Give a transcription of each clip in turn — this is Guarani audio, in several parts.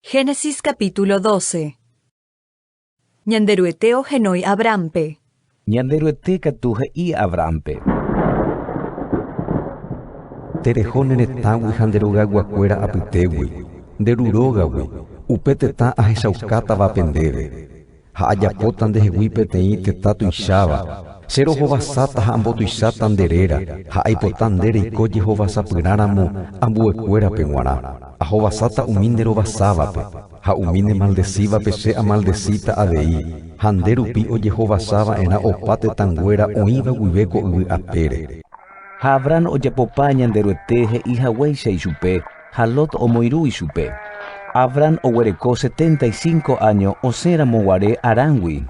Génesis capítulo 12 Ñanderuete ohenói Abránpe. Ñanderuete katu he'i Abránpe. Tereho ne retãgui ha nde rogayguakuéra apytégui, nde ru rógagui, upe tetã ahechaukátavape ndéve. ha ajapóta ndehegui peteĩ tetã tuicháva, che rohovasáta ha ambotuicháta nde réra, ha aipota nde reiko jehovasapyrã ramo ambuekuérape g̃uarã, ahovasáta umi nde rovasávape, ha umi ne maldesívape che amaldesíta avei, ha nde rupi ojehovasa va'erã opa tetãnguéra oĩva guive ko yvy apére. Ha Abrán ojapopa Ñanderuete he'i haguéicha ichupe, Ha Lot omoirũ ichupe. Abram oguereko setenta y cinco áño osẽramo guare Haránngui.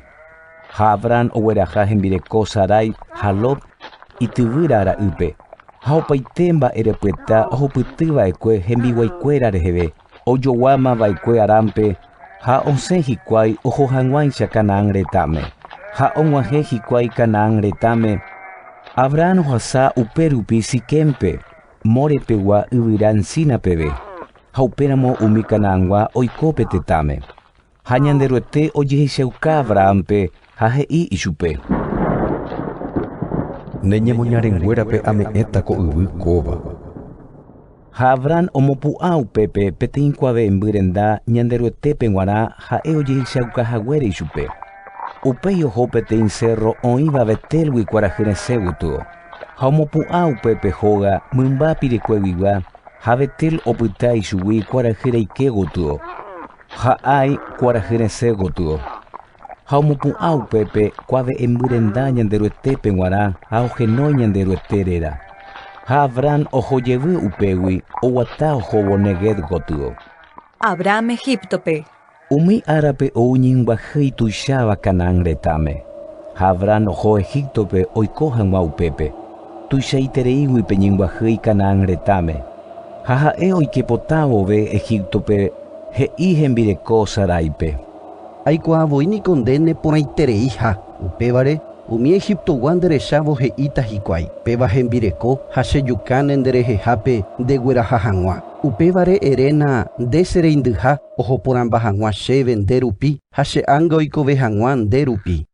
Ha Abram ogueraha hembireko Sarai ha Lot ityvýra ra'ýpe, ha opaite mba'e repyta ohupyty va'ekue hembiguaikuéra reheve, ojoguáma va'ekue Haránpe ha osẽ hikuái oho hag̃uáicha Canaán retãme. Ha og̃uahẽ hikuái Canaán retãme, Abram ohasa upérupi Siquémpe, More pegua yvyra encina peve, ha upéramo umi Canaangua oiko pe tetãme. Ha Ñanderuete ojehechauka Abrahampe ha he'i ichupe. Ne ñemoñarenguérape ame'ẽta ko yvy kóva. Ha Abraham omopu'ã upépe peteĩ kuave'ẽmby renda Ñanderuetépe g̃uarã ha'e ojehechauka haguére ichupe. Upéi oho peteĩ cérro oĩva Betélgui kuarahy resẽ gotyo. Ha omopu'ã upépe hóga mymba pirekueguigua, ha Betel opyta ichugui kuarahy reike gotyo, ha Ai kuarahy resẽ gotyo. Ha omopu'ã upépe kuave'ẽmby renda Ñanderuetépe g̃uarã ha ohenói Ñanderuete réra. Ha Abrán oho jevy upégui, oguata ohóvo Neguev gotyo. Abraham Egíptope. Umi árape ou ñinguaje ituicháva Canaán retãme, ha Abraham oho Egíptope oiko hag̃ua upépe. Tuichaitereígui pe ñinguajey Canaán retãme, ha ha'e oike potã vove Egíptope, he'i hembireko Saráipe. Aikuaa voi niko nde neporãitereiha. Upévare, umi Egiptogua nderechávo he'íta hikuái, Péva hembireko ha che jukãne nde rehehápe nde gueraha hag̃ua. Upévare eréna, Nde che reindyha ohoporãmba hag̃ua chéve nde rupi ha che ánga oikove hag̃ua nde rupi.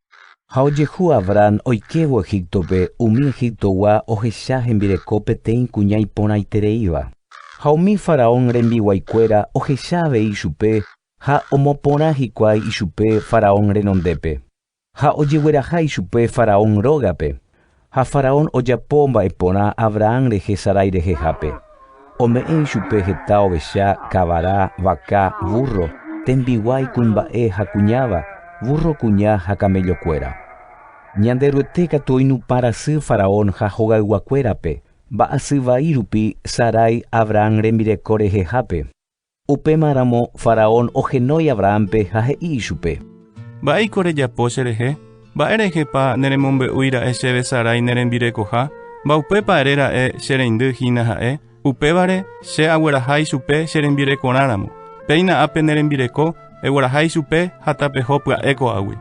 Ha ojehu Abrán oikévo Egíptope, umi Egiptogua ohecha hembireko peteĩ kuña iporãitereíva. Ha umi faraón rembiguaikuéra ohecha avei chupe Ha omoporã hikuái ichupe faraón renondépe, ha ojegueraha ichupe faraón rógape. Ha faraón ojapo mba'e porã Abrahán rehe Sarai rehehápe. Ome'ẽ ichupe heta ovecha, kavara, vaka, vúrro, tembiguái, kuimba'e ha kuñáva, vúrro kuña ha kamellokuéra. Ñanderuete katu oinupã rasy faraón ha hogayguakuérape, mba'asy vai rupi Sarai Abrahán rembireko rehehápe. Upémaramo faraón ohenói Abrahámpe ha he'i ichupe. Mba'éiko rejapo cherehe? Mba'érehepa neremombe'úi ra'e chéve Sarai ne rembirekoha? Mba'upépa ere ra'e che reindy hína ha'e? Upévare, che agueraha ichupe che rembirekorã ramo. Péina ápe ne rembireko, egueraha ichupe ha tapeho pya'e ko'águi.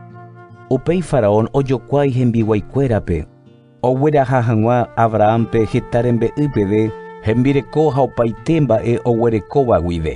Upéi faraón ojokuái hembiguaikuérape. Ogueraha hag̃ua Abrahánpe heta rembe'y peve, hembireko ha opaite mba'e oguerekóva guive.